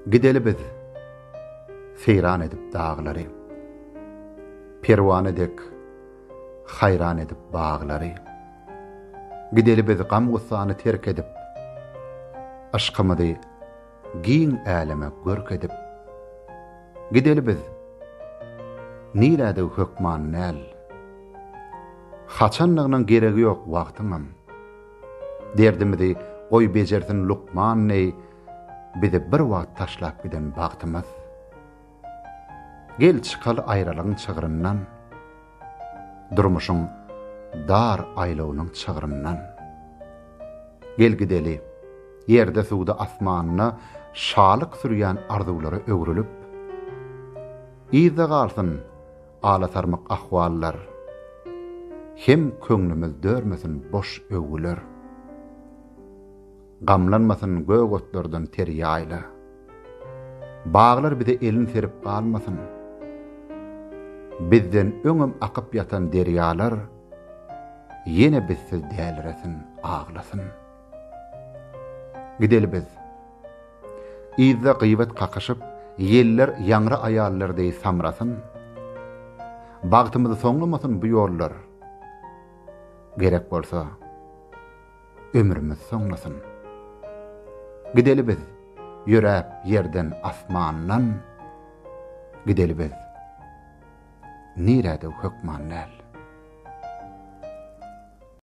Gideli biz seýran edip daglary, Perwana dek haýran edip baglary. Gideli biz gam-gussany terk edip, Yşkymyzy giň äleme görk edip. Gideli biz, nirädigi hökman näl, Haçandygynyň geregi ýok wagtyňam. Derdimizi goý bejersin lukman neý bizi bir wagt taşlap giden bagtymyz Gel çykaly aýralygyň çygryndan Durmuşyň dar aýlawynyň çygryndan Gel gideli ýerde suwda asmanda şalyk sürýän arzuwlara öwrülip Yzda galsyn Alasarmyk ahwallar Hem köňlümiz dörmesin boş öwgüler. Gamlanmasyn gök otlardan ter ýaýla. Baglar bize elin serip galmasyn. Bizden öňem akyp ýatan derýalar, Ýene bizsiz däliresin, aglasyn. Gideli biz. Yzda gyýbat kakyşyp, ýeller ýaňra aýallar deý samrasyn. Bagtymyzy soňlamasyn bu ýollar. Gerek bolsa, ömrümiz soňlasyn. Gideli biz, ýöräp ýerden asmandan. Gideli biz. Nirä-de hökman däl.